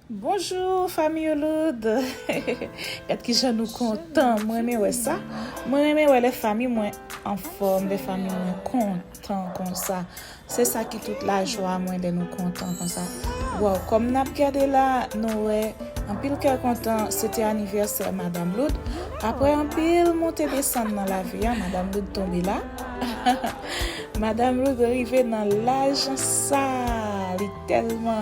Bonjour fanmi ou loud Gad kijan nou kontan m renmen wè sa mwen renmen wè lè fanmi mwen anfòm lè fanmi mwen kontan konsa se sa ki tout lajwa mwen lè nou kontan konsa waw kòm nap gade la nou wè anpil kè kontan se te anivèsè madam loud aprè anpil monte desann nan lavi a madam loud tonbe la madam loud rive nan laj sa li tèlman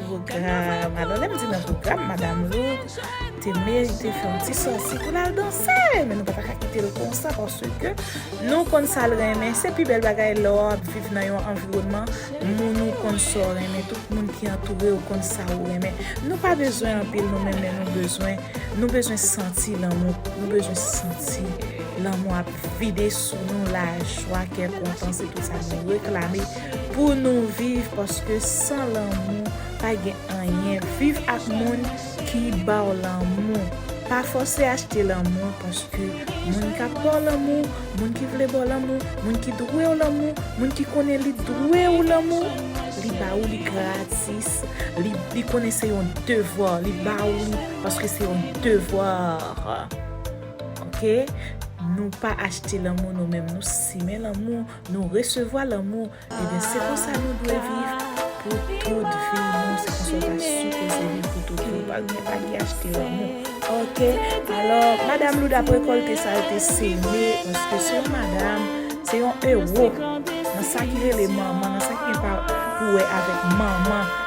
Pwogram, alò lè m di nan pwogram madam Lou te merite fè yon ti sòti pou l al danse men nou pa ta ka kite l konsa paske nou konn sa l renmen se pi bèl bagay lè w ap viv nan yon anviwònman moun ou konn sa w renmen tout moun ki antoure w konn sa ou renmen nou pa bezwen anpil nou menm men nou bezwen nou bezwen santi lanmou nou bezwen santi lanmou ap vide sou nou lajwa kè kontan se tout sa nou reklame Pou nou viv paske san lanmou pa gen anyen viv ak moun ki baw lanmou pa fòse achte lanmou paske moun kap baw lanmou moun ki vle baw lanmou moun ki dwew lanmou moun ki konnen li dwew lanmou li ba ou li gratis li konnen se yon devwa li ba ou li paske se yon devwa ok nou pa achte lanmou nou menm nou simen lanmou Nou resevwa lanmou ebyen se konsa nou dwe viv pou tout vi nou se konsa ou ta sipoze viv pou tout vi ou pa gen pa gen achte lanmou ok alò madam loud ap rekolte sa yo te seme paske se yon madam se yon ewo nan sa ki rele manman nan sa ki gen pou wè avèk manman.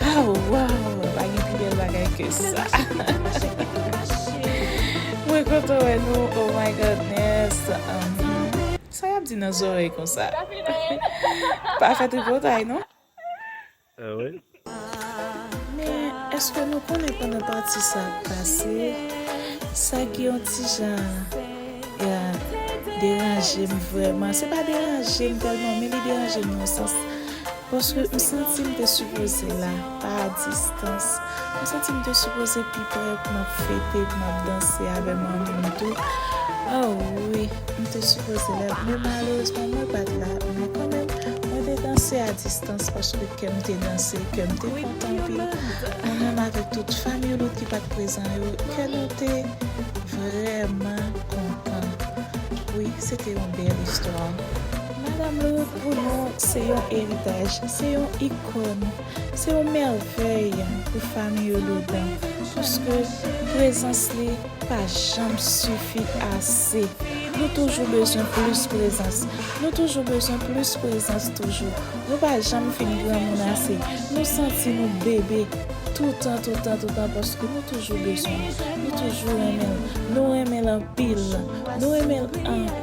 Aww waww mwen pa gen pi bel bagay ke sa mwen kontan wè nou oh my goodness sa yap di nan zorey konsa pa fè tripotay non men eske nou konnen pandan pati sa ap pase sa gen yon ti jan deranjem vrèman se pa deranjem tèlman men li deranjem nan yon sans Paske m santi m te sipoze la, pa a distans. M santi m te sipoze pi pre pou m ap fete, pou m ap danse avè manmi m tou. Oh wi, m te sipoze la, men malerezman mwen pa t la. Men kanmenm, mwen te danse a distans paske kè m te danse, kè m te kontan anpil. Mwen menm avèk tout fanmiy Lout ki pa t prezan yo, kè nou te vrèman kontan. Wi, se te yon bèl istwa. Madam Lou pou nou se yon eritaj, se yon ikòn, se yon mèvèy pou famiy Jourdan paske prezans li pa janm sifi ase. Nou toujou bezwen plis prezans, nou toujou bezwen plis prezans toujou. Nou pa janm fin granmoun ase. Nou santi nou bebe toutan, toutan, toutan paske nou toujou bezwen l, nou toujou renmen l, nou renmen l anpil, nou renmen l anpil.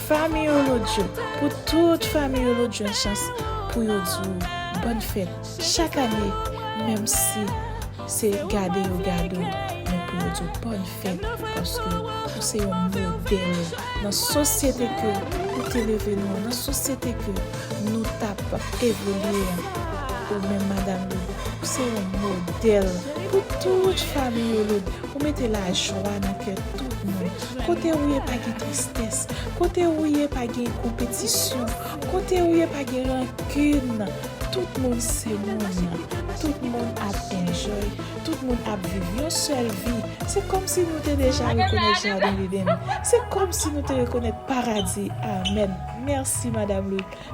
Famille Olodjo pou tout famille Olodjo a chans pou yo di w bòn fèt chak ane menm si se gade yo gade w men pou yo di w bòn fèt paske ou se yon modèl nan sosyete ke ou te leve nou an nan sosyete ke nou t ap evolye an ou menm madam Lou ou se yon modèl pou tout famille Olodjo ou mete lajwa nan kè tout moun kote ou ye pa gen tristès kote ou ye pa gen konpetisyon kote ou ye pa gen rankin tout moun se moun tout moun ap enjoy tout moun ap viv yon sèl vi se kòmsi nou te deja rekonèt jaden Eden se kòmsi nou te rekonèt paradi amen mèsi madame Louis.